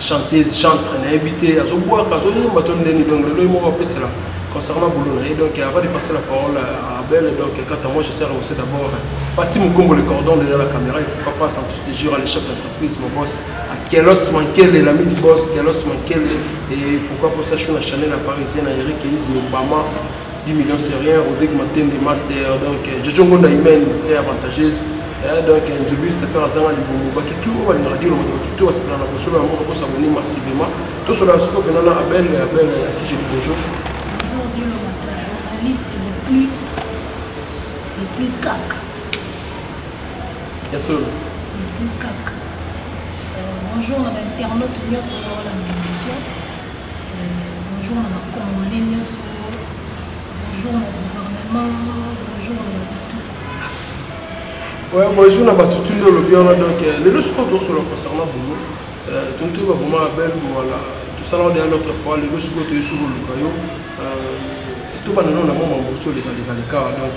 chanteuse chantre nayebi te azobwaka azoyemba to ndeni donc lelo ye moko apesela concernant boulot na ye donc avant de passer la parole à Abel donc quant à moi je tiens à remercier d'abord Pati Mukombo le cordon derrière la caméra et pourquoi pas Santos de Jura le chef d'entreprise mon boss à Kelos Mankele l'ami du boss Kelos Mankele et pourquoi pas ça sur la chaîne la parisienne à Eric Elise Obama 10 millions c'est rien Rodrigue Matende master donc euh, Jojo Ngonda Imen est avantageuse eh, donc euh, Nzubi sepela azanga libongo bato tu oyo balingaka dino bato bato tu basepela na kosolo yango bakosabone massivement tosolo ya siko mpena na abel abel ya kije libojo Bonjour, Dieu le matin, journaliste le plus, le plus caca, ya solo le plus caca. Euh, bonjour à l'internaute Nyon sur la émission. Bonjour na Congolais nyoso. Bonjour na gouvernement. Bonjour na Batutu. Ouais, bonjour na Batutu nde olobi wana donc euh, lelo sikoyo tosolo concernant boulot. Euh, tontu baboma na belle voilà tosalaka deya notre fois lelo sikoyo toyesi koluka yo euh, tobanda nao na mwa mamboso lekalekalekaa donc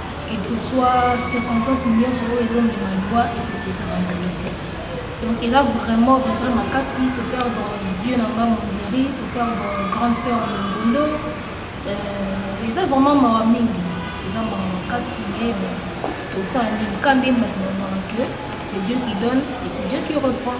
quel que soit circonstance nyonso oyo ezomema liwa esepesaka ngai te donc eza vraiment regret makasi to perdre vieux na ngai monderi to perdre grande sœur mongondo euh, eza vraiment mawa mingi eza mawa makasi ye bon tosala nini ka nde moto nabaka que c'est dieu qui donne et c'est dieu qui reprend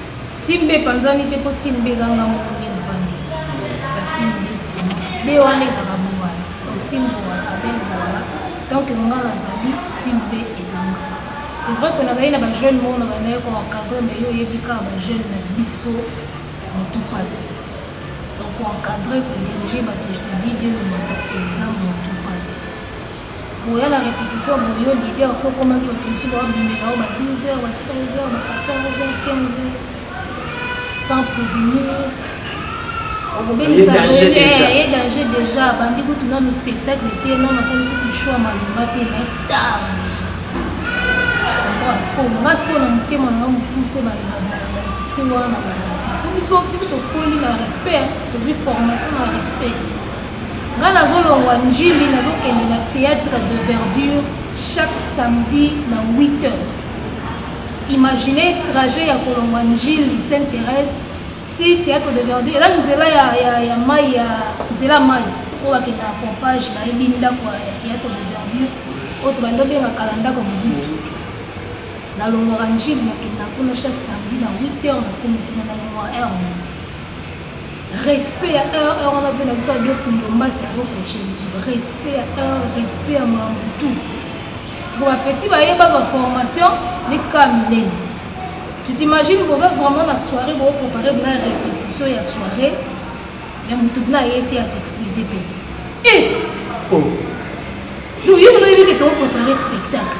Timbe epanzani te mpo timbe eza nga moko nde navandi na timbe nsima be wana ezaka bowala donc timbe wana abel bowala donc nga nazali timbe ezanga c'est vrai que nazali na bajeune moko na bandaki koencadre mai yo oyebi kaka bajeune na biso motu mpasi donc koencadre kodirige bato je te dis dieu le mata eza motu mpasi Oya na repetition ya boyo leader so okomaki bato mosusu babimela yo ba 12 heures ba 13 heures ba 14 heures 15 heures sans prévenir okobengisa ye danger déjà abandi kutu nano spectacle te nano asali kutu show ya malonga te na star déjà nga sikoyo na motema nanga mokuse baesprit wana biso biso tokoli na respect tozwi formation na respect nga nazolongwa njili nazokende na théâtre de verdure chaque samedi na 8 heures imagine trajet ya kolongwa njili sainte thérèse ti théâtre de verdure eza nzela ya, ya, ya mai ya nzela mai oyo bakenda na pompage nayebi ndako ya théâtre de verdure oyo tobandi obengaka na ndako ya mobutu nalongwaka njili nakenda kuna chaque samedi na 8 heures nakomi kuna na longwa heure respect ya heure heure wana mpe na biso abios ndombasi azokoche biso respect ya heure respect ya makambo tout siko bapeti baye bazwa formation neti kaka minene tu t'imagine boza vraiment na soirée bokoprepare bina répétition ya soirée ya motu bina aye te ya s'excuse mpe te e eh! oh. donc yo mino yebi ke tokoprepare spectacle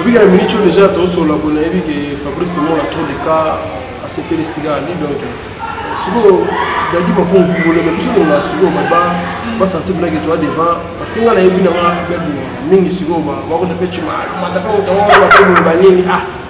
Obika na minute oyo deja tosolola boye nayebi ke Fabrice Simon a trop de cas asepeli sika ali donc sikoyo dadi bafo mvungoleme biso tolinga sikoyo baba basanti bilaki toa devant parce que ngai nayebi nanga bebima mingi sikoyo bakota mpe cima mata mpe motango bakoboye banini ah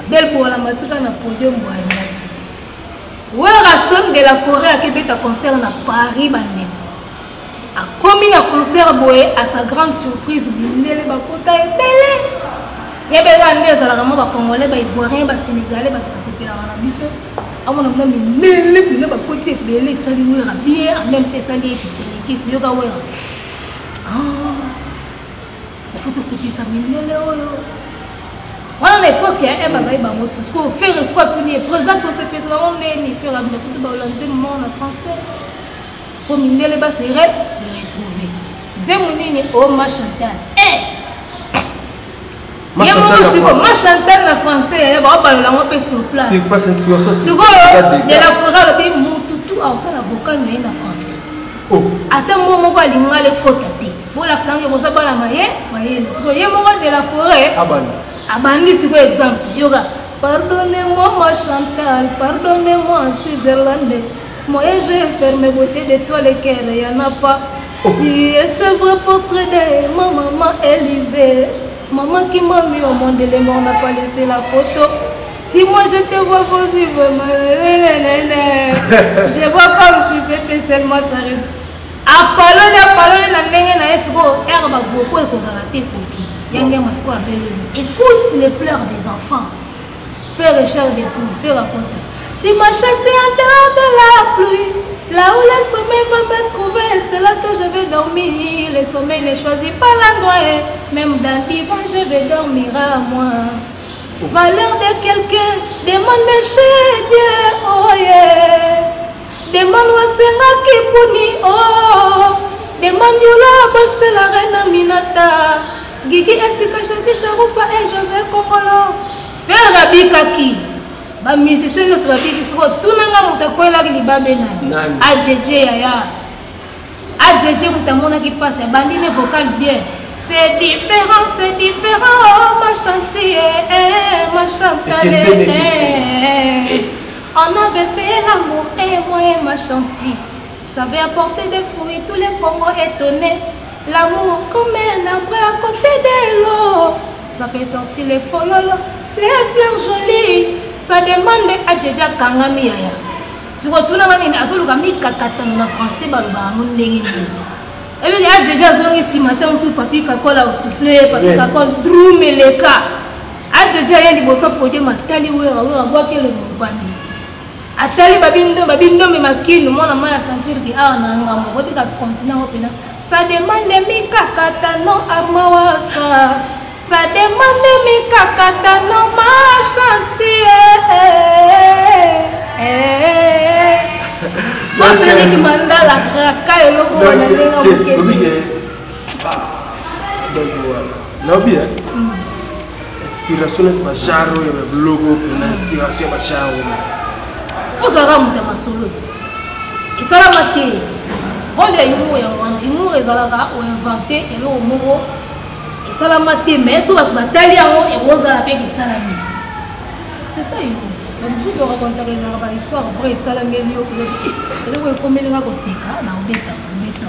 Abel Bola matika na podium boya nyati. Werrason de la forêt akebeta concert na Paris bandeko. Akomi na concert boye à sa grande surprise bindele bakota ebele. Yebela nde ezalaka mwa bacongolais baivoirien basénégalais bato basepelaka na biso amona mwa mindele mpena bakoti ebele esali wera bien en même te esali ye kipelekisi yoka wera ah. faut tosepelisa mindele oyo wana na epoke ya eme azali bango tu sikoyo fere sikoyo atuni ye président tosepelisa bango ndeni fere abina kutu baolanzi mort na français mpo mindele basere se retrouve nzemu nini o oh, machantal e eh! ye moko siko machantal na français yaya baobalola yango mpe sur placesikoyo de la fora alobi mutu tu aosala vocal na ye na français oh. ata mo moko alinga lekota te bolakisa yango boza bana maye mayele siko ye moko de la foret abandi siko exemple yoka pardonnez-moi ma chantal pardonnez-moi en switzerland moyen je ferme beauté de toi le cœur y'en a pas oh. tu es ce vrai portrait de ma maman Élisée maman qui m'a mis au monde les morts n'a pas laissé la photo Si moi je te vois pour vivre, je vois comme si c'était seulement sa responsabilité. Apaloli apaloli na ndenge na ye sikoyo ere bavoko ekokaka te ekoki yange masiko abeleli écoute les pleurs des enfants faire cher de poule faire akota tu m'as chassé en dehors de la pluie là où le sommeil va me trouver c'est là que je vais dormir le sommeil ne choisit pas l'endroit même dans l'hiver je vais dormir à moi valeur de quelqu'un demande chez Dieu oh yeah Demande wasengaki boni oh Demande yola banse la reine Aminata Gigi esika Jackie Charufa et José Kongolo Ferre abikaki ba musicien nyonso babiki soko tuna nga moto akwelaki libabe nani ajeje yaya ajeje moto amonaki mpasi abandi ne vocal bien c'est différent c'est différent oh, ma chantier eh, ma chantale eh, eh, eh. On avait fait l'amour et moi et ma chantier. Ça avait apporté des fruits, tous les Congos étonnés. L'amour comme un arbre à côté de l'eau. Ça fait sortir les fololo, les fleurs jolies. Ça demande à Djedja Kangami Yaya. sikoyo tuna wana nini azoluka mikakatano na français baloba yango ndenge nini ebiki ajeje azongi nsima te mosusu papi kakola osufle papi kakola drumeleka ajeje aye liboso produit matali wera wera bwaki elongo mopanzi atali babindo babindombe makino mwana mai asentir ke awa na ngambo kobika continent ngo mpena sa demande mikakatano armawasa sa demande mikakatano ma chantier boseneki mandala kraka eloko wana ndenge mokeli naobi eh? mm. inspiration neti basharo ya babiloko mpona inspiration ya basharo ozalaka moto ya masolo ti esalama te role ya humour yango wana humour ezalaka oinvente eloko moko esalama te mais so bato batali yango ekozala mpe esalami c'est ça humour bamosusu torakontaka ezalaka bahistoire vrai esalameli yo eloko ekomelinga koseka na obeta obeta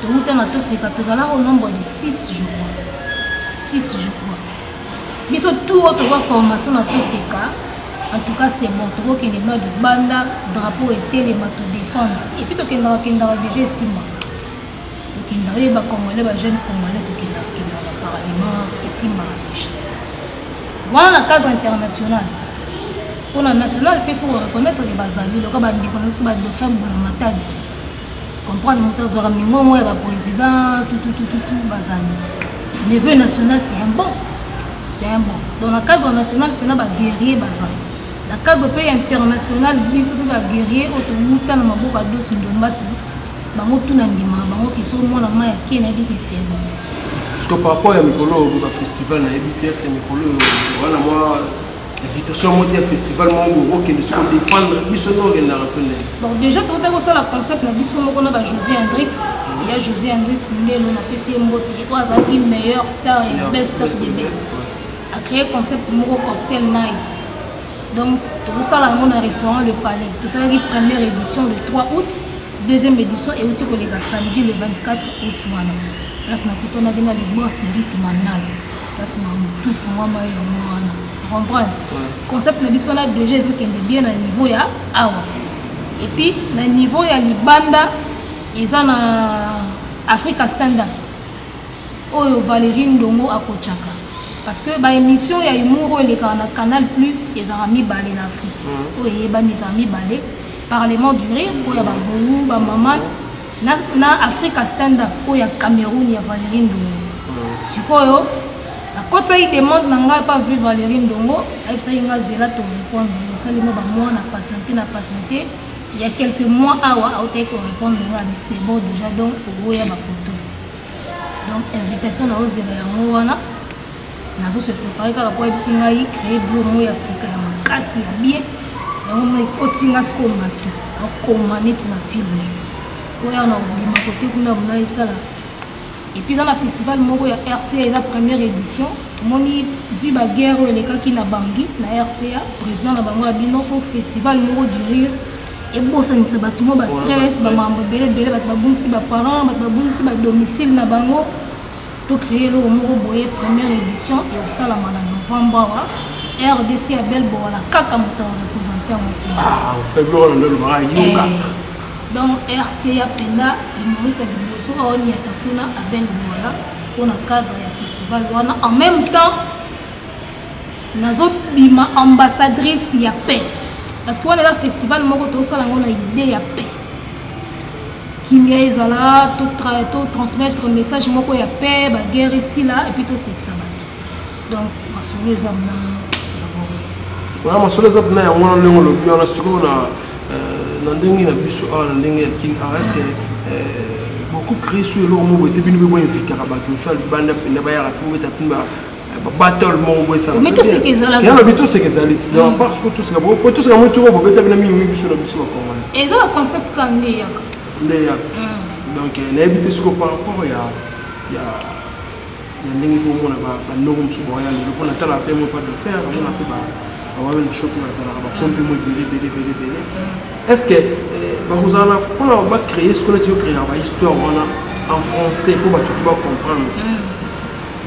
towuta na toseka tozalaka au nombre de 6 je crois 6 je crois biso tout oyo tozwa formation na toseka en tout cas c'est bon tokokende na libanda drapeau etelema todefendre epuis tokendaka kendaka déjà esimba tokendaka ye bacongolais bajeune congolais tokendaka kendaka parlement esimbaka déjà wana na cadre international mpona national mpe fo koreconnaitre ke bazali loka bandeko na biso badefa mbula matadi comprendre moto azwaka mingongo ya baprésident tututututu bazali neveu national c'est un bon c'est un bon donc na cadre national mpena baguerrier bazali na cadre mpe international biso mpe baguerrier oyo towuta na maboko ya dosi ndombasi bango tuna ndimaka bango ke soki mwana mai ya kie nayebi ke c'est bon parce que par rapport ya mikolo oyo bafestival nayebi te eske mikolo oyo wana mwa invitation moko ya festival moko okende soko défendre biso nde okendaka to ndenge donc déjà tokotaki kosala concept na biso moko na bajosé hendrix ya josé hendrix ngelo napesi ye mbote oyo azalaki meilleur star ya best of the best acréé concept moko cocktail night donc tokosala yango na restaurant le palais tosalaki première édition le 3 août deuxième édition euti koleka samedi le 24 août wana place nakutanaki na libos eric mandala place na mutu efungwama yango wana comprendre concept na biso wana deja ezokende bien na niveau ya awa epuis na niveau ya libanda eza na africa standard oyo valerie ndongo akotyaka parce que baémission ya humour oyo elekaka na canal plus ezalaka mibale na afrique oyo eyebani ezalaka mibale parlement du rire oyo ya babongo bamama na, na africa standup oyo ya cameroun ya valerie ndongo mm. sikoyo akotisaki demande na ngai epa vi valerie ndongo ayebisaki ngai zela torepondre osali mwa bamwa na patiente na patiente il y a quelques mois awa autaki korépondre nga abi c'est bon déjà donc oboya bapoto donc invitation na ozela yango wana nazo se préparer kaka mpo ayebisi ngai créer bulo moko ya sika ya makasi ya bien yango mona ekoti nga sikoyo maki akoma neti na filme oya na kobima kote kuna mona esala epuis eza na festival moko ya rca eza première édition omoni vi baguerre oyo elekaki na bangi na rca président na bango ya bino mpo festival moko durire ebosanisa bato mo bastress bamambo ebele ebele bato babungisi baparent bato babungisi badomicile na bango To créer eloko moko boye première édition et osalama na novembre awa rdc ya belle bowana kaka moto ya représentant mokoaolobaka yoka donc rca mpenza humoriste ya liboso aoniata kuna abel bowana mpona cadre ya festival wana en même temps nazo bima ambassadrice ya paix parce que wana eza festival moko tosala yango na idée ya paix kimia ezala to, tra, to transmettre message moko ya paix baguerre esila epuis tosekisa bato donc masolo eza na yango masolo eza mpena yango wana ndenge olobi wana sikoyo na euh, na ndenge na biso awa na ndenge ya kin ah, eske euh, bokokristu eloko moko ete bino mpe boinvitaka bato mosusu ya libanda mpenza bayaka mpe obeta mpe battle moko boye sana mais toseka ezalaka yalo bi toseka ezali ti donc parce que toseka bo po toseka mutu ko bobeta bina mingi mingi biso na biso ba congolais eza ba concept ka nde yaka nde yaka donc na yebi te siko par rapport ya ya ya ndenge ko mona ba ba ndoko musu ba ya lelo pona tala pe mo pas de faire on a pe ba ba wa na shop na zala ba pompe mo bele bele bele bele est-ce que ba vous en a pona ba créer ce qu'on a dit créer ba histoire wana en français pour ba tout ba comprendre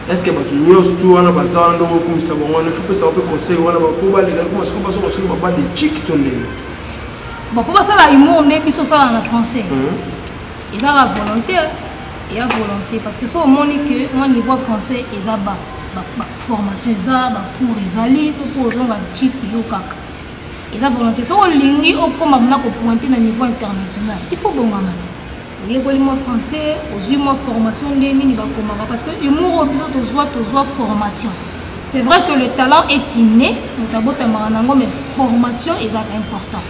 est ce que bato nyonso tu wana baza wana ndongo okumisa bango wana efi pesa bape conseil wana bapo baleka ekoma siko baso kosolo baba de chik to ndenge bapo basala humour nde biso osala na français mhm. eza la volonté eya volonté parce que so omoni que mwa niveau français eza ba formation eza bacour ezali soki ozonga chik yo kaka eza volonté soki olingi okoma mona kopointe na niveau international il faut bongama ti oyekoli mwa français ozwi mwa formation nde nini bakomaka parce que humour oyo biso tozwa tozwa formation c'est vrai que le talent est inné moto abotamaka nango mais formation ezalaka important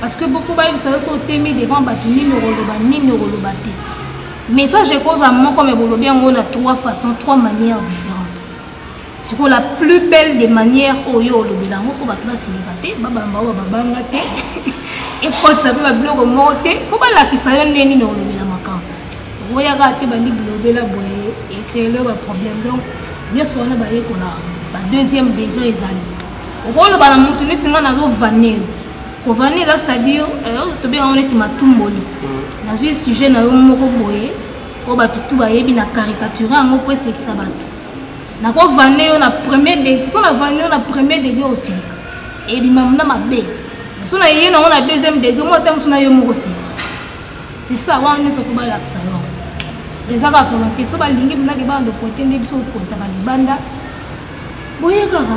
parce que boko bayebisa yo so otemi devant bato nini okoloba nini okoloba te message ekozala moko me bolobi yango na trois façons trois manières différentes sikoyo la plus belle de manière oyo olobela yango mpo bato basilika te babamba oyo babanga te ekotisa mpe babiloko moko te fo balakisa yo nde nini olobela makambo okoyaka te bandi bilobela boye ecreele baproblème donc nyonso wana bayekola ba deuxième degré ezali okoloba na motu neti ngai nazovaneyo kovane eza c'est-à-dire euh, tobenga yango neti matumboli mm. nazwi sujet na yo moko boye oyo bato tu bayebi na caricature yango mpo esekisa bato nakovande yo na premier degré so navande yo na premier degré osilika ebima na mabe so na ye nango na deuxième degré mwa ta mosu na yo moko osilika c'est ça wana nyonso po balakisa yo eza kaka volonté so balingi mpenaki bana lokote nde biso kokota balibanda boyekaka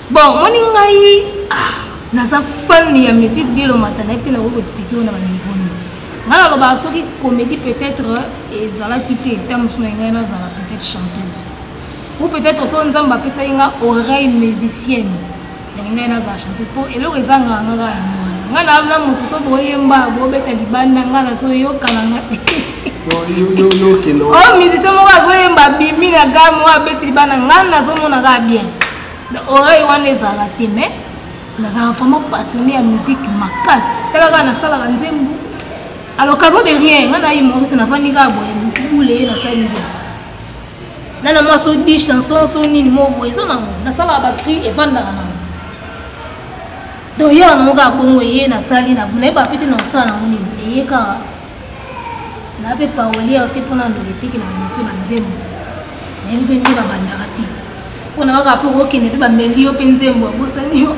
bon moni ngai ah, naza fan ya musique dilo mata nayebi te nakoki koexplike yo na baniveau nini ngai nalobaka soki comédie peut-être ezalaki te ta mosusu na ngai nazala peut-être chanteuse ou peut-être so nzambe apesaki nga oreille musicienne yangi ngai nazala chanteuse mpo eloko ezangaka ngaka yango ngai na na moto so boyemba bobeta libanda ngai nazoyoka na nga o musicien moko azoyemba bimi na game oyo abeti libanda ngai nazomona kaka bien oreille wana ezalaka te mais nazalaka vraiment passionné ya musique makasi talaka nasalaka nzembo à l'occasion de rien nga na humoriste nafandi kaka boye motibule ye nasali nzembo na na mwasi odi chanson so nini moko boye eza nango nasalaka bacri efandaka nango donc yaka nango kaka bongo eye nasali nayeba pete na kosala nango nini eye kaka na mpe paoli yao te mpona ndoki etekela banose banzembo nayebi mpe nde babandaka te mpo na kaka mpe okokende mpe bameli yo mpe nzembo abosani yo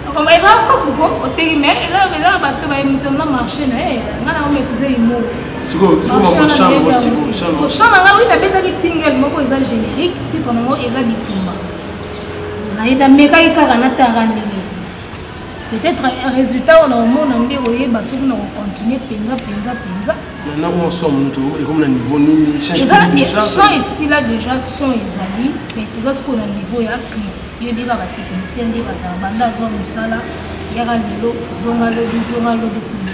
okoma eza kokuko oteki me eza eza bato baye moto na marché na ye nga na omekiza imo chan nanga wi nabetaki single moko eza générique titre nango eza bitumba naye namekaki kaka natanga ndenge peut-être résultat wana omona nde oyeba soki na kocontinue mpenza mpenza mpenza son esila déjà son ezali mais toza sikoyo na niveau ya clip yebi kaka technicien nde bazala banda azwa mosala yaka lelo zonga lobi zonga lobi kuna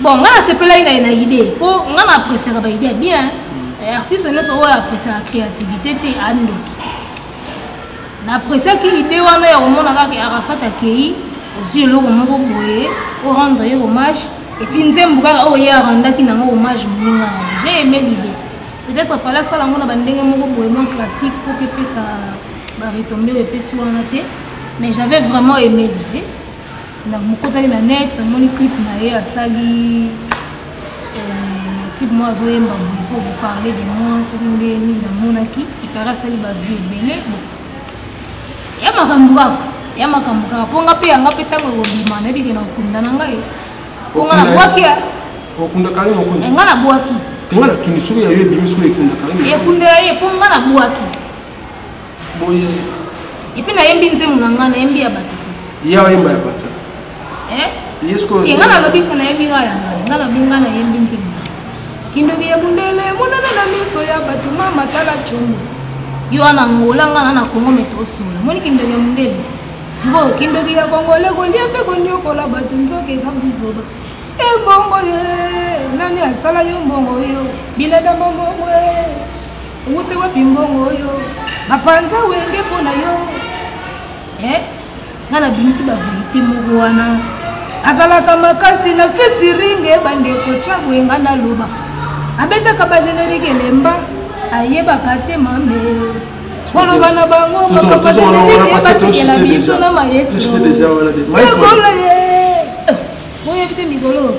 bon nga nasepelaki na ye na idée mpo nga na appréciaka ba idée bien eh, artiste nyonso oyo appréciaka créativité te andoki na appréciaki idée wana ya komona kaka arafat akei ozwi eloko moko boye orendre ye hommage epuis nzembo kaka oyo ye arandaki nango hommage moninga na ye j'ai aimé l'idée peut-être fala asala yango na bandenge moko boye mwa classique mpo mpe epesa baretombe oyo epesi wana te mais j'avais vraiment aimé l'idée namokotaki na net namoni clip na ye asali euh, clip moko azoyemba boye soki oparle de moi soki nde nini namonaki epare asali bavie ebele ya makambo kaka ya makambo kaka mpo nga mpe yanga mpe ntango ekobima nayebi ke na okunda na ngai mpo nga nabwaki ya okundaka ye mokonzi nga nabwaki nga na tuni soki ya yo ebimi soki ekundaka ye ekundela ye mpo nga nabwaki boye epuis nayembi nzembo na ngai nayembi ya bato te ya oyemba ya bato ye ngai nalobi ko nayebi ngai ya ngai ngai nalobi ngai nayembi nzembo kindoki ya bundele emonana na miso ya bato mama tala congo yo wana ngola ngai na na kongo me tosola moni kindoki ya bundele sikoyo kindoki ya kongole kolia mpe konyokola bato nzoka eza buzoba embongo ye nani asala yo mbongo yo biladama mbongo ye Owuti wapi mbongo oyo? Bapanza wenge mpo na yo. Eh? Nga nabimisi ba verite moko wana. Azalaka makasi na feti ringe bandeko tya boye nga naloba. Abetaka ba générique elemba ayebaka te mame. Koloba na bango makambo ba générique ebatikela biso na maestro. Maestro. Oyebi te mikolo.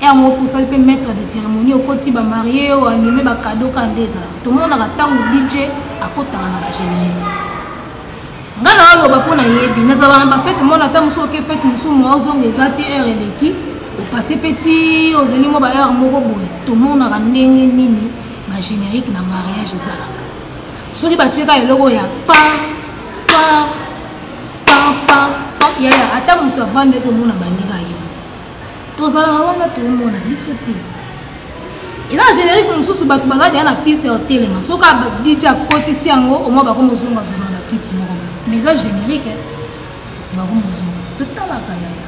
Heure moko mpe osali mpe maitre de ceremonie, okoti ba marie, o anime ba cadeau kaka nde ezalaka. Tomonaka ntango DJ akotaka na ba generique. Nga na oloba mpo nayebi, nazalaka na ba fete mona ntango mosusu oke fete mosusu mwa ozonga eza te heure eleki, opase mpe ti ozali mwa ba heure moko boye, tomonaka ndenge nini ba generique na mariage ezalaka. Soki batie kaka eloko ya pa pa pa pa pa yaya ata moto avandi ete omona bandika ye. tozalaka wana toomona biso te eza na générique mosusu bato bazali deya na piste ya otelema soki dj akotisi yango omwa bakomi ozongazonga na bakiti moko mais eza générique bakomi ozonga totalaka yaya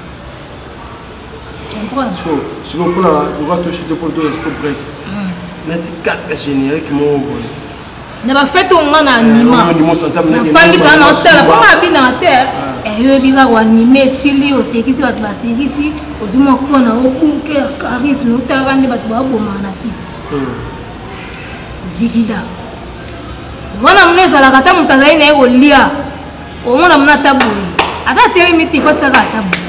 siko mpona loka toshite mpo toya siko bref neti 4 générique moko boye na bafete oyo nga na anima nafandi mpona na otala mpo nga abinaka te eyobi kaka wanime esili osekisi bato basekisi ozwi moko na obunker charisme otalaka nde bato babomaka na piste zikida wana muna ezalaka ata moto azali na ye kolia omona muna ata boye ata atelemi te kotyaka ata boye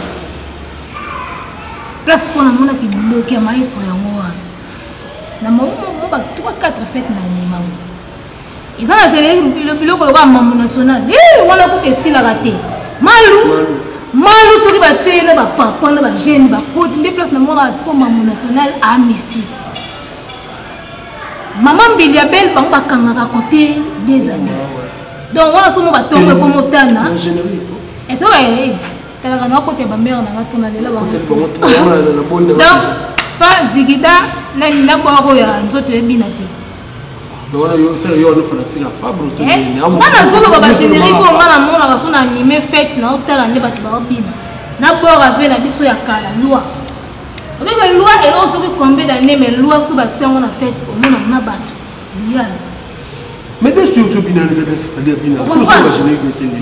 place mpo namonaki liloki ya maestro yango na mamomo ba 3 4 fete na ememango eza na generi biloko lokola mambo national eh, wana kuta esilaka te malu malu soki batye na bapapa na bagene bakoti nde place na mwana siko mambo national amnistie mama mbili ya bele bango bakangaka kote des années donc wana somo batongo ekomotana etoka talaka na kote ba mère na nga tuna lela ba donc pa zigida na na bwako ya nzoto ebina te bana zoloba bagénérique oyo nga namonaka so na anime fete na otala nde bato baobina na bor ave na biso ya kala loi obebe loi eloko soki combien d'année mais loi so batia yango na fete omonaka na bato liyana mais bien sûr tobina les adresse fadi abina so so bagénérique etende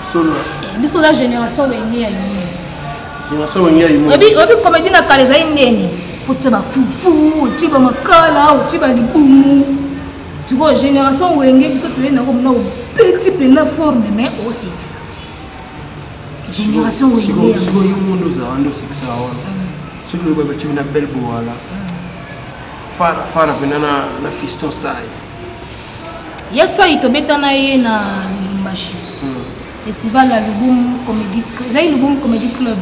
solo eh, biso oza génération wenge ya yini génération wenge ya yini oyebi komedi na kala ezali ndeni otya bafufu otye bamakala otye balibumu sikoyo génération wenge biso toyei nango mona obeti mpena forme mais osekisa génération wengeyo mondo ozala nde osekisa wana soki lokola batimi na belle bowala fara fara mpena na fiston sai ya sai tobeta na ye na lubumbashi hmm. festival ya lubum comedi ezali lubum comedy club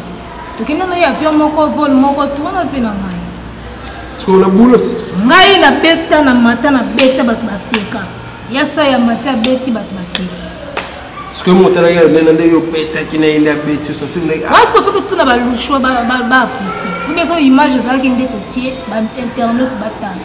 tokenda na ye avion moko vol moko to wana mpe na ngai sikoyo na bulot ngai nabeta na mata nabeta bato baseka ya sai ya mati abeti bato baseki sikoyo motalaki alobela nde yo obetaki na ye nde abeti osatiwasiko fo totuna balushwa baaprecie obeso image ezalaki nde totie bainternet batala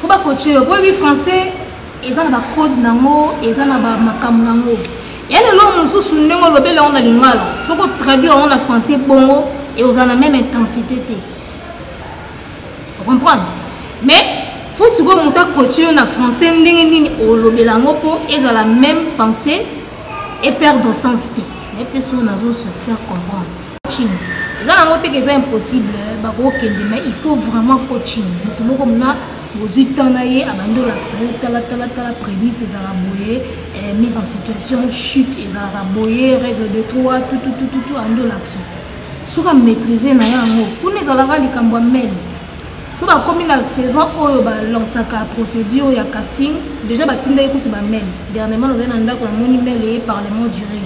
Faut ba coacher yo. Boyebi français eza na ba code nango, eza na ba makambo nango. Ya lelo mosusu ndenge olobeli yango na lingala, soki otraduire yango na français bongo et oza na même intensité te. Vous comprenez? Mais faut sikoyo moto akoache yo na français ndenge nini olobela yango mpo ezala même pensée et perdre sens te. Mais peut-être soki nazo se faire comprendre. coaching eza nango teke eza impossible eh, bakokende mais il faut vraiment coaching moto moko mna bozwi temps na ye abandi olakisa ye talatalatala prémisse ezalaka boye eh, mise en situation chute ezalaka boye règle de trois tututututu andi olakisa soki amaîtrise na ye yango kuna ezalaka likambo ya mene so bakomi na saison oyo balansaka procédure ya casting déjà batindaki kutu bamail dernièrement nazali na ndako namoni mail eye parlement duré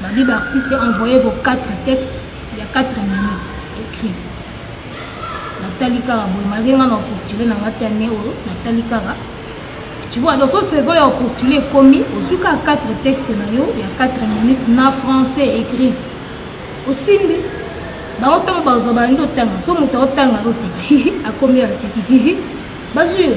Badi ba artiste envoyer vos 4 textes il y a 4 minutes écrit. Natali kaka boye malgré nga na postuler na nga te année oyo natali kaka tu vois dans son saison ya postuler ekomi ozwi kaka 4 texte na yo ya 4 minutes na français écrite otindi bango ntango bazwa bandi otanga so moto aotanga oseka akomi aseki bazwi yo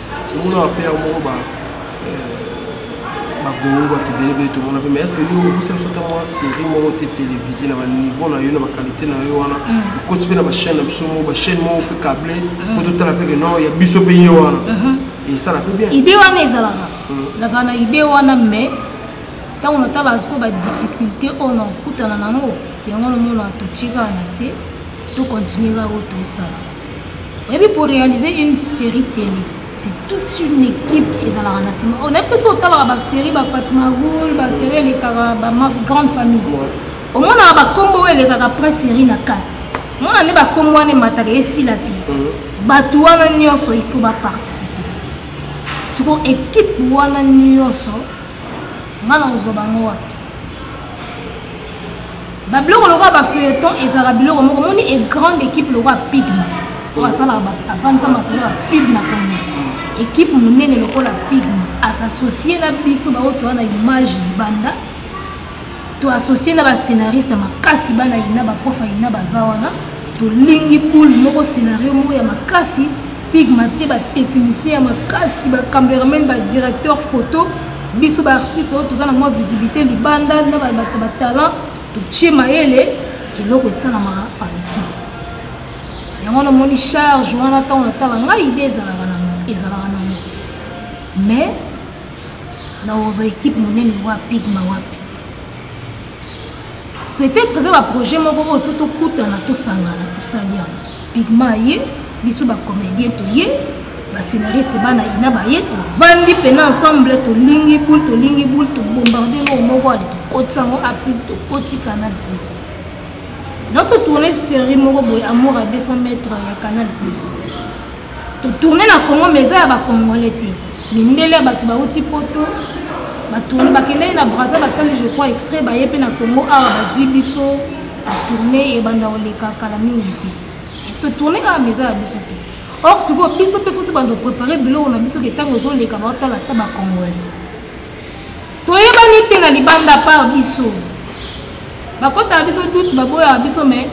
omona ba père moko ba bagongo bato ebele bele tomona mpe mais estce yo okosa biso ata mwa série moko te télévisé na baniveau na yo na baqualité na yo wana okoti mpe na bachaîne na biso moko bachaîne moko mpe cable mpo totala mpe ke non ya biso mpe ye wana esala mpe bien idée wana ezalaka nazala na idée wana mais ntango natala sikoyo badifficulté oyo nakutana nango yango nomona totika na se tokontinue kaka oyo tosala ebi pour réaliser une série télé c'est toute une équipe ezalaka na nsima onayebi mpe so otalaka basérie bafatima goul basérie elekaka bagrande famille omonaka bakombo oyo elekaka après série na caste mona nde bakombo wana emataka esila te mhm. bato wana nyonso il faut baparticipe siko équipe wana nyonso nga na kozwa bango wapi babiloko lokola bafeuilleton ezalaka biloko moko moni e grande équipe lokola pigma oyo asalaka afandisa masolo ya pigma kongo équipe monene lokola pigma asassocie na biso baoyo toa na image libanda to associe na bascénariste makasi bana ina baprof ya ina baza wana tolingi boule moko scénario moko ya makasi pigmatie batechnicien ya makasi bacameraman badirecteur photo biso baartiste oyo toza na mwa visibilité libanda na bato batalent totie mayele eloko esalamaka paliki yango wana omoni charge wana ntango natala ngai ide ezalaka na ezalaka na mais na ozwa ekipe monene wapi ma wapi peut-être eza baprojet moko oyo fo tokutana tosangana tosali yango pigma ye biso bacomédien toye bascénariste bana ina baye tovandi mpena ensemble tolingi boule tolingi boule tobombarde noko moko ale tokotisa yango a plus tokoti canal plus nazo tourne série moko boye amour à 200 mètres ya canal plus totourne na congo mais eza ya bacongolais te mindele ya bato bauti poto batourne bakendaki na braza basali je crois extrait baye mpe na congo awa bazwi biso tourne ebanda koleka kala mingi te totourne awa mais eza ya biso te or sikoyo biso mpe fo tobanda koprepare biloko na biso ke ntango ezoleka baotala ata bacongolais toyebani te na libanda par biso bakotaka biso duti baboyaka biso mai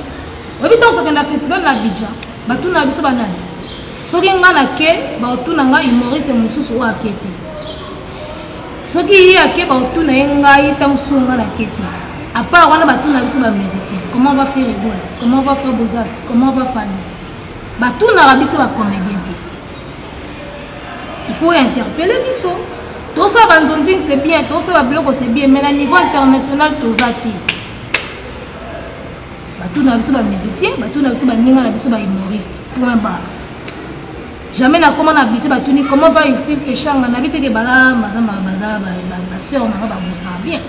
oyebi ntango tokenda festival na abidja batunaka biso banani soki ngai nake baotuna ngai humoriste mosusu oyo ake te soki ye ake baotuna ye ngai ntango susu ngai nake te apart wana batuna biso bamusicien comment va faire egola comment va faire bogas comment va fani batunaka biso bacomédien te il faut interpelle biso tosala banzonzing c'est bien tosala babiloko c'est bien mais na niveau international toza te batuna na biso bamusicien batuna na biso baninga na biso bahumoriste point bar jamais nakoma na budget batuni comment va ici peshanga nabi teke baza baseur nanga babosaka bien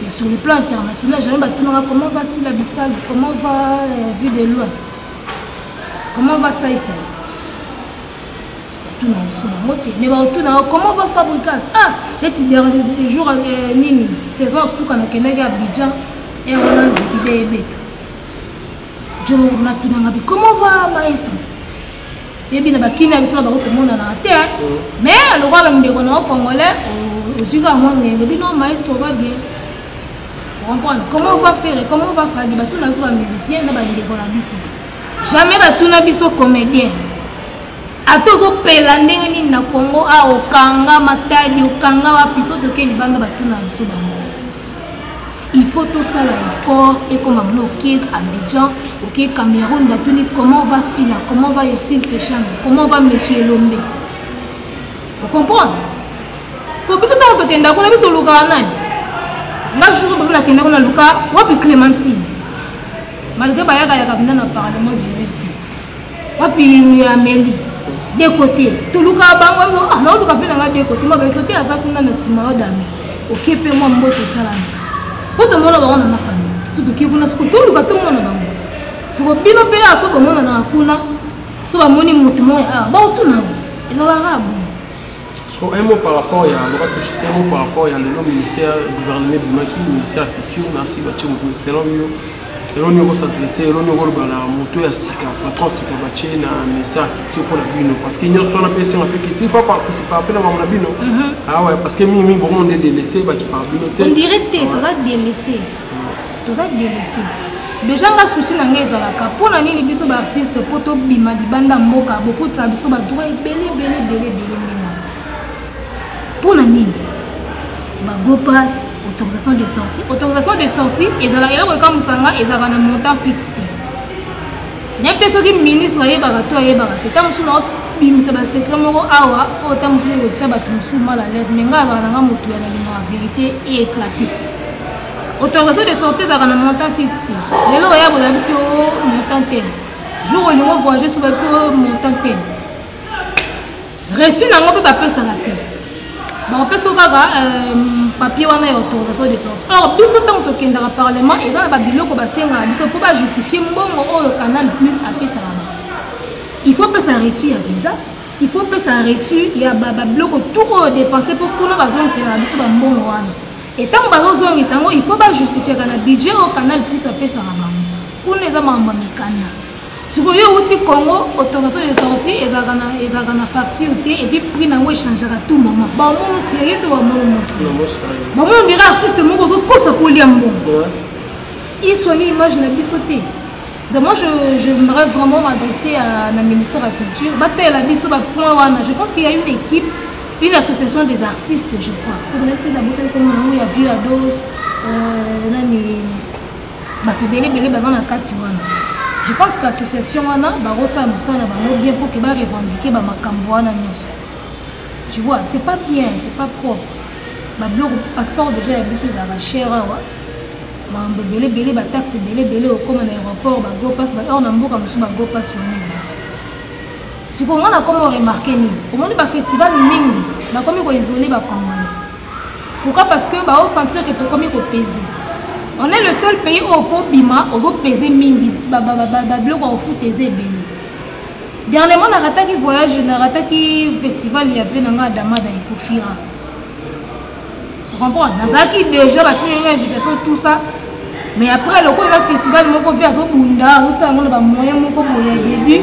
mais sur le plan international jamais batunaka comment va sila bisalo comment va euh, vue de loin comment va saisa tuna biso bango te mais baotuna yo comment va fabricas ah neti dernier jour euh, nini saison asuka nakendaki abidjan ere eh, wana nziki be ebeta jor natunanga bi comment va maestro yebi na bakini ya biso na bango tomonanaka te mais lokola ndeko na yo congolais ozwi kaka mwa ngenge bino maestro va bien comprendre comment on va faire comment on va faire batuna biso ba musicien na bandeko na biso jamais batuna biso comédien ata ozopela ndenge nini na congo a ah, okanga matadi okanga wapi so toke libanda batuna biso bango il faut tosala effort ekoma bino oke abidjan oke cameroun batuni comment va sila comment va yosil pechano comment va monsieur elombe ocomprendre po biso ntango tokenda kuna bi tolukaka nani nga jour mposo nakenda kuna luka wapi clémentine malgré bayakayaka mpenza na parlement du mid wapi ameli de côté tolukaka bango ah, naoluka mpe nanga de côté mabe soki aza kuna na nsima yo dame oke mpe mwa mboto esalami mpo tomona bango na mafamili so toke kuna soko toluka tomona bango soko bino mpe ya so bomonanaka kuna so bamoni motu moya ah, baotuna ezalaka bo So un mot par rapport ya loba touche un mot par rapport ya lelo ministère gouvernement bimaki ministère ya culture na si batie moto selon yo eloni yoko s'adresse eloni yoko loba na moto ya sika patron sika batie na ministère ya culture mpo na bino parce que nyonso wana mpe esenga mpe culture fa participe mpe na bango na bino awa parce que mingi mingi bongo nde delese baki par bino te on dirait te toza delese toza delese deja nga souci na ngai ezalaka mpo na nini biso baartiste mpo tobima libanda mboka bokotisa biso badroit ebele ebele ebele ebele ndenge mpo na nini bagopas autorisation de sortie autorisation de sortie ezalaka eloko ekamusanga ezalaka na montant fixe te nayebi te soki ministre ayebaka to ayebaka te ntango mosusu naobimisa basekret moko awa oyo ntango mosusu ekotya bato mosusu mal à l'aise mai ngai azala na ngai motu ya nalingaka verité e éclate autorisation de sortie ezalaka na montant fixe te lelo oya boya biso montant tene jour olingo voyage soba biso montant tene reçu nango mpe bapesaka te bakopesa kaka euh, papier wana ya autorisation de sorti or biso ntango tokendaka parlement eza na babiloko basengaka biso mpo bajustifie mbongo oyo canal plus apesaka bango il faut pesa reçu ya visa il faut pesa reçu ya babiloko tout oyo dépense mpo kuna bazongisela na biso bambongo wana e ntango bazozongisa yango il faut bajustifiaka na budget oyo canal plus apesaka bango kuna eza makambo ya mikanda sikoyo yo outi congo automato de sorti ezalaka na ezalaka na facture te epuis prix na yango echangeaka tout moment bamono serie to bamono mosi bamono dira artiste moko ozokosa kolia mbongo iswani image na biso te donc moi j'aimerais vraiment m'adresser na ministère ya culture batalela biso bapoint wana je pense qu'il y a une équipe une association des artistes je crois komona te nabosani komona yango ya vieux ados euh, nani bato ebele ebele baza na kati wana je pense que association wana bakosala mosala na bango bien mpo ke barevendike bamakambo wana nyonso tu vois c'est pas bien c'est pas propre babiloko passeport déjà ya biso ezalaka cher awa makambo ebele ebele bataxe ebele ebele okoma na aéroport bagopas or na mboka mosusu bagopas wana ezalaka sikoyo nga nakomi oremarke nini omoni bafestival mingi bakomi koisole bacongolais pourquoi parce que bao sentir que tokomi kopese on est le seul pays oyo mpo obima ozopese mingi babiloko ya kofuta eza ebele dernièrement narataki voyage narataki festival ya vie na ngai adamada ekofira comprendre nazalaki déjà batinga invitation tout ça mais après lokola eza festival moko vie azobunda azosala yango na bamoyen moko boye ya début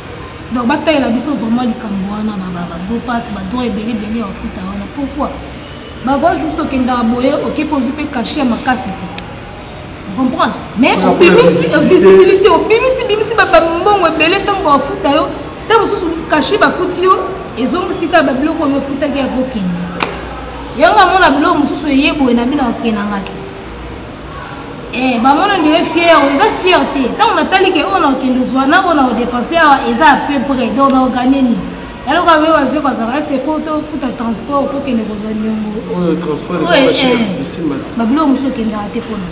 donc batalela biso vraiment likambo wana na babopas badroit ebele ebele ya bafuta wana pourkui bavoyage mosusu tokendaka boye okepe ozwi mpe kashe ya makasi te comprendre mais obimisi visibilité obimisi bimisi babambongo ebele ntango bafuta yo ntango mosusu kashe bafuti yo ezongisi kaka babiloko oyo ofutaki ya kokende yango amona biloko mosusu eye boye na bino akenanga te Eh, bamona ondire fiere eza fiere te ntango natali ke oyo nakokende ozwa na oyo nakodepense awa eza à peu près donc naogane nini eloko abe waze kozala eske po tofuta transport okokende kozwa niongobabiloko mosusu okendaka te mpona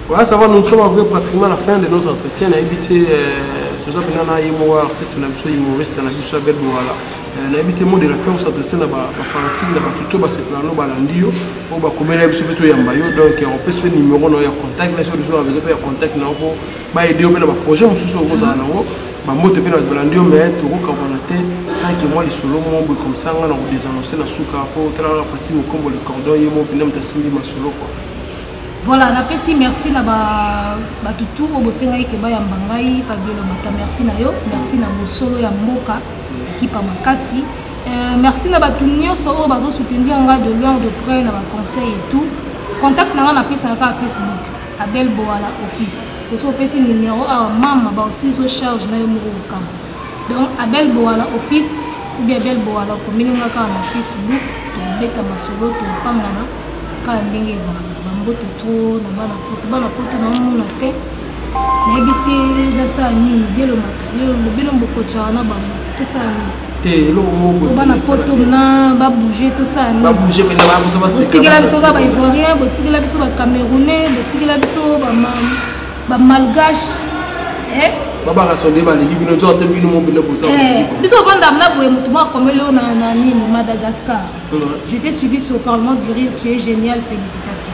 Voilà, ça va, nous sommes en vrai pratiquement à la fin de notre entretien. On a évité, euh, tout ça, on a un artiste, on a un humoriste, on a un bel voilà. Eh, nayebi te mot de la fin osadresse na bafanatike na bato to basepela no balandi yo oyo bakomela biso mpe toyamba yo donc opesi mpe numero na yo ya contact na soki biso babezo mpe ya contact na yo mpo baede yo mpe na baprojet mosusu okozala nango bambote mpe na bato balandi yo mai tokokabwana te sanke mwa lisolo mo boye komsa nga na kodesanonse na suka mpo otalaka na pati mokombo le cordon ye mo mpena moto asimbi masolo kua voilà napesi merci na bato tour oyo bosengaki ke bayamba ngai pabilo mata merci na yo merci na bosolo ya mboka ekipa makasi euh, merci na bato nyonso oyo bazosoutenir nga de loin de près na baconseil et tout contact na nga napesaka kaka facebook abel boala office oki opesi numero awa mama baosiso charge na yo moko kokama donc abel boala office obi abel boala okomeli nga kaka na facebook tobeta masolo topangana kaka ndenge ezalaka bambote tro na bana poto bana poto naomona te nayebi te nasala nini bielo makalelo lobino bokotya wana bango tosala nini te eloko moko bana poto na babouge tosala nini babouge mpe na bakoso baseka botikela biso kaka baivoirien botikela biso bacamerounais botikela biso bamalgache eh? babaka sonde baleki bino nzoka te bino mobele bosa eh, biso ofanda mna boye motu mwa akomeli oyo na nini madagascar je t'ai suivi sur parlement du rire tu es génial félicitations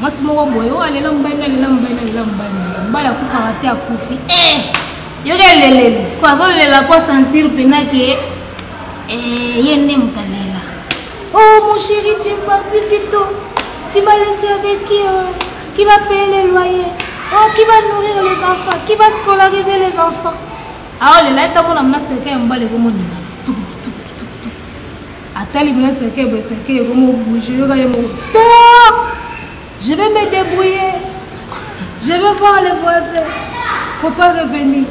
mwasi moko boye oyo oh, alela mobali na lela mobali na lela mobali na ye mobali akufaka te akufi e eh! yoki eleleli siko azolela po sentir mpena ke eh, ye nde moto alela o oh, mon chéri tu es parti si tôt tu m'as laissé avec qui euh, qui va payer les loyers oh, qui va nourrir les enfants qui va scolariser les enfants aolela ah, oh, etamona mna seka ya mobali ekomonela Ata libino eseke bo eseke ekomo bouger yoka ye moko stop je vais me débrouiller je vais voir les voisins faut pas revenir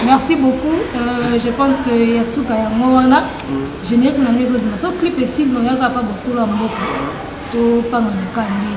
merci beaucoup euh, je pense que ya suka yango wana mm. générique na ngai ezobima so clip esili noyaka apa bosolo ya mboka topanga na kani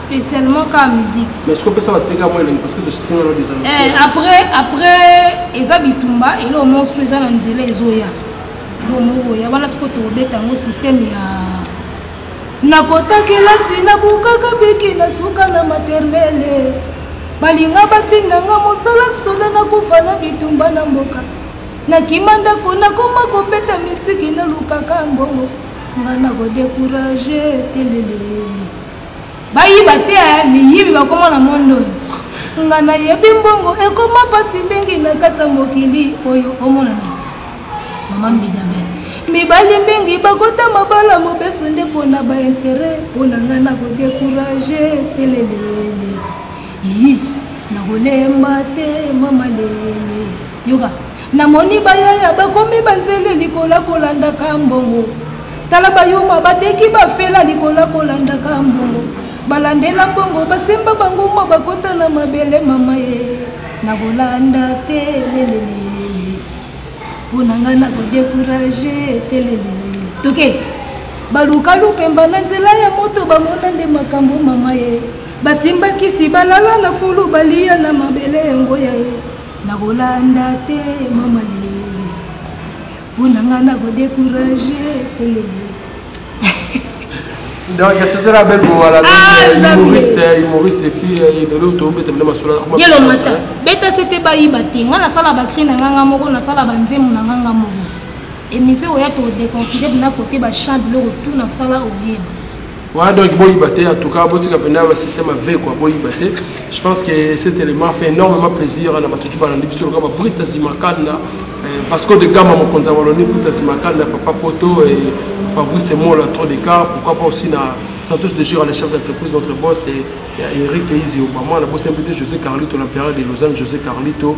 spécialement ka musique mais ce qu'on peut ça va te péter à moi parce que tu sais non des amis eh, après après eza bitumba et là au moins sous eza na nzela ezoya lo moko ya wana siko tobeta yango système ya nakota kelasi nabukaka biki na suka na maternele balinga batinda nga mosala soda nakufa na bitumba na mboka nakima ndako nakoma kobeta misiki nalukaka mbongo nga nakodekourage telelele bayiba te eh, miyibi bakoma na mondo oyo nga nayebi mbongo ekoma mpasi mingi na kati ya mokili oyo omonana mama mbidabe mibali mingi bakota mabala mobeso nde mpo na baintere mpo na ngai nakodekourage telelele yi nakolemba te mama lele yoka Namoni bayaya bakomi banzele likola kolandaka mbongo. Tala bayuma bateki bafela likola kolandaka mbongo. Balandela mbongo basemba bango mwa bakota na mabele mama ye. Nakolanda te lelelele. Mpo na ngai nakodekuraje te lelelele. Toke. Okay. baluka lupemba na nzela ya moto bamona nde makambo mama ye basimbakisi balala na fulu baliya na mabele yango ya ye nakolanda te mama lele mpo na ngai nakodecourage elele donc ya sotela bel bowala humoriste humoriste epuis lelo tobeta bino masolagelo mata beta sete bayiba te ngai nasala bacri na nganga moko nasala banzemu na nganga moko émission oya todeconfide bina kote bachamp biloko tu nasala oyeba Voilà donc Boyibate, en tout cas, Botika Penda, le système avec quoi, Boyibate. Je pense que cet élément fait énormément plaisir à la Matutu Balandi, puisque le Gaba Brita Simakanda, euh, parce que de Gama Mokonza Waloni, Brita Simakanda, Papa Poto et Fabrice Mola, trop d'écart, pourquoi pas aussi na Santos de Giro, le chef d'entreprise, notre boss, et, et Eric Izi Obama, la boss invité José Carlito, l'empereur de Lausanne, José Carlito,